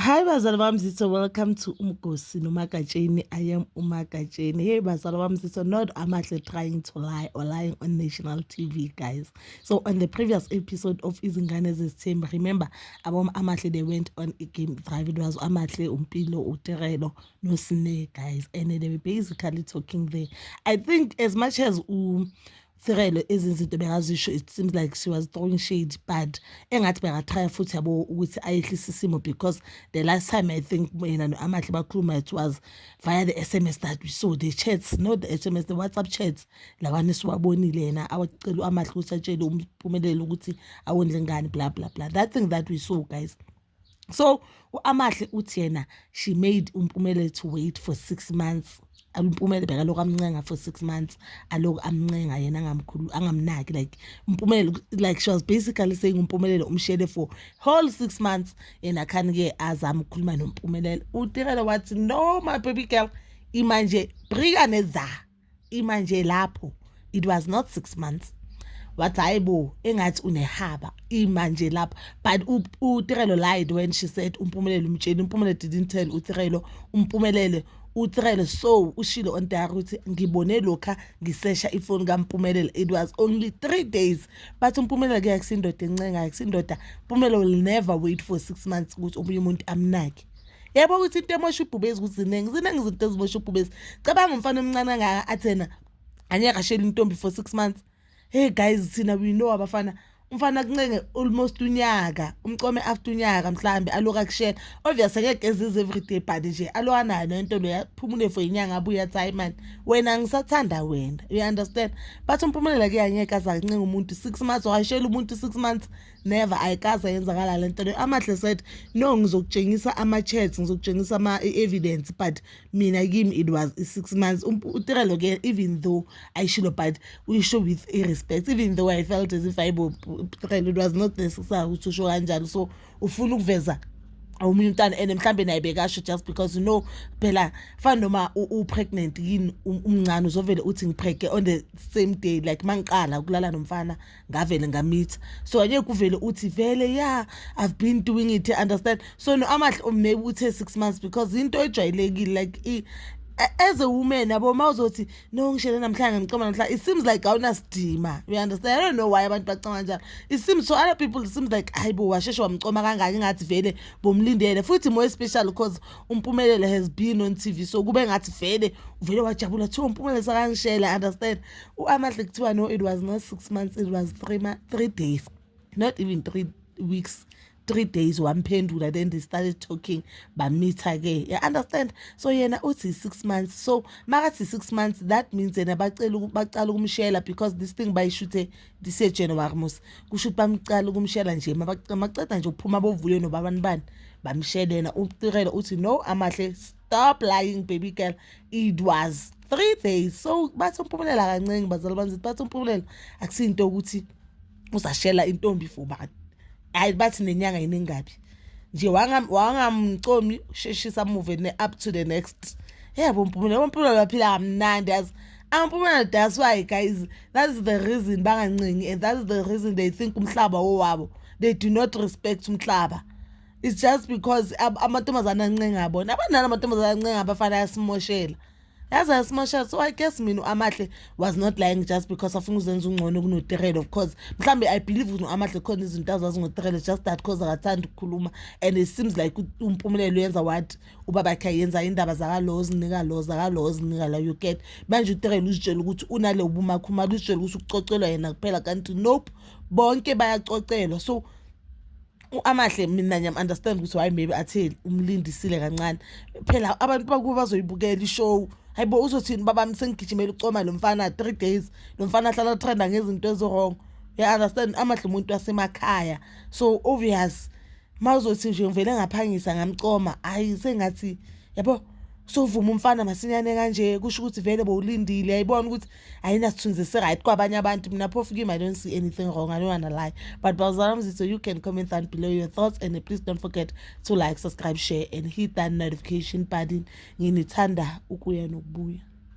Hi bazalwa bami zitho welcome to uMgosi noMagatsheni I am uMagatsheni hey bazalwa bami zitho not amahle trying to lie or lying on national TV guys so on the previous episode of izingane zesithembu remember abom amahle they went on a game drive it was amahle umpilo uterelo nosine guys and they were basically talking there I think as much as u um, Thirelo ezinye izinto bengazisho it seems like she was throwing shade but engathi bengathaya futhi yabo ukuthi ayehlise isimo because the last time i think yena no-amahle bakhuluma it was via the sms that we saw the chats not the sms the whatsapp chats lawana esiwabonile yena awacela u-amahle ukuthi atshele umpumelelo ukuthi awondle ngani bla bla bla that thing that we saw guys so u-amahle uthi yena she made umpumele to wait for six months umpumele bekalokhu amncenga for six months alokhu amncenga yena angamkhulu angamnaki like umpumele like she was basically saying umpumelelo umshele for whole six months yena khani-ke azama ukukhuluma nompumelelo utirelo wathi no my baby girl imanje brika neza ima nje lapho it was not six months wathi hayi bo engathi unehaba ima nje lapho but utirelo lied when she said umpumelelo umtsheni umpumelelo didn't tell utirelo umpumelele utirelo so ushilo on diary ukuthi ngibone lokha ngisesha ifoni kampumelelo it was only three days bathi umpumelelo ke akusindoda encengayo akusindoda mpumelelo will never wait for six months ukuthi omunye umuntu amnake yabo ukuthi into emosha ubhubezi ukuthi ziningi ziningi izinto ezimosha ubhubezi cabanga umfana omncane angaka athena anyaka ashela intombi for six months hey guys thina we know abafana umfana kuncenge almost unyaka umcome after unyaka mhlambe aloku akushela obvious ngeke ezize everyday but nje alwanayo nento lo yaphumule for inyanga abuye athi hayi mani wena ngisathanda wena you understand but umphumelela kuyangeke azakuncenga umuntu six months washela umuntu six months never ayikaze yenzakala le nto leyo amahle said no ngizokutshengisa ama-chats ngizokutshengisa ama-evidence but mina kimi it was i-six months um, utirelo ke even though ayishilo but uyisho with i-respect even though i felt as if ayibo utirelo it was not necessary ukuthi usho kanjalo so ufuna ukuveza omunye umntana and mhlawumbe naye bekasho just because you know phela fana noma u-pregnant yini um, umncane uzovele uthi ngiphege on the same day like mangiqala ukulala nomfana ngavele ngamitha so ake kuvele uthi vele ya i've been doing it understand so no amahle oh, maybe uthe six months because into ejwayelekile like i as a woman yabo uma uzothi no ngishele namhlanje ngimcoma namhlanje it seems like awunasidima you understand i don't know why abantu bacanga njalo it seems so other people it seems like hayi bo washeshe wamcoma kangaki ngathi vele bomlindele futhi more special because umpumelelo has been on tv so kube ngathi vele uvele wajabula thiwa umpumelelo sakangishela understand u-amahle kuthiwa no it was not six months it was three, three days not even three weeks three days wamphendula then they started talking bamitha-ke you understand so yena uthi six months so makathi six months that means yena bacala ukumshela because this thing bayishuthe disejanuary mos kusho ukuthi bamcala ukumshela nje maceda nje ukuphuma bovule nobabanibani bamshelena utirela uthi no amahle stop lying baby girl it was three days so bathi umpumelela kancenge bazali bami zithi bathi umpumelela akusinto ukuthi uzashela intombi for bani hayi bathi nenyanga yiningabi nje wangamcomi sheshisa move ne up to the next yebo mpumela mpumela baphila kamnandi yazi ampumela that's why guys that's the reason bangancengi and that's the reason they think umhlaba wowabo they do not respect umhlaba it's just because amantombazane ancenga bona abanalo amantombazane ancenga abafana ayasimoshela yaze ayasimoshela so i guess mina u-amahle was not lying just because afuna uzenza ungcono kunoterele of course mhlawumbe i believe ukuthi u-amahle khona izinto azazi ngoterele just that cause akathanda ukukhuluma and it seems like umpumelelo uyenza what ubabakhe ayenza indaba zakalo zinika lo zakalo zinika la you get manje uterele uzitshela ukuthi unale ubumakhumalo uzitshela ukuthi ukucocelwa yena kuphela kanti nope bonke bayacocelwa so uAmahle mina ngiyam understand ukuthi why maybe atheli umlindisile kancane phela abantu bakubo bazoyibukela ishow hayibo uzothini baba msengigijimela ucoma lo mfana 3 days lo mfana ahlala trenda ngezinto ezirong you understand amahle umuntu wasemakhaya so obvious mawuzothi nje ngivele ngaphangisa ngamcoma hayi sengathi yabo sovuma umfana masinyane kanje kusho ukuthi vele bowulindile yayibona ukuthi ayinasithunzi esiright kwabanye abantu mina phofu kim i don't see anything wrong i don't wanna lie but bawuzala mzitho you can comment down below your thoughts and please don't forget to like subscribe share and hit that notification button nginithanda ukuya nokubuya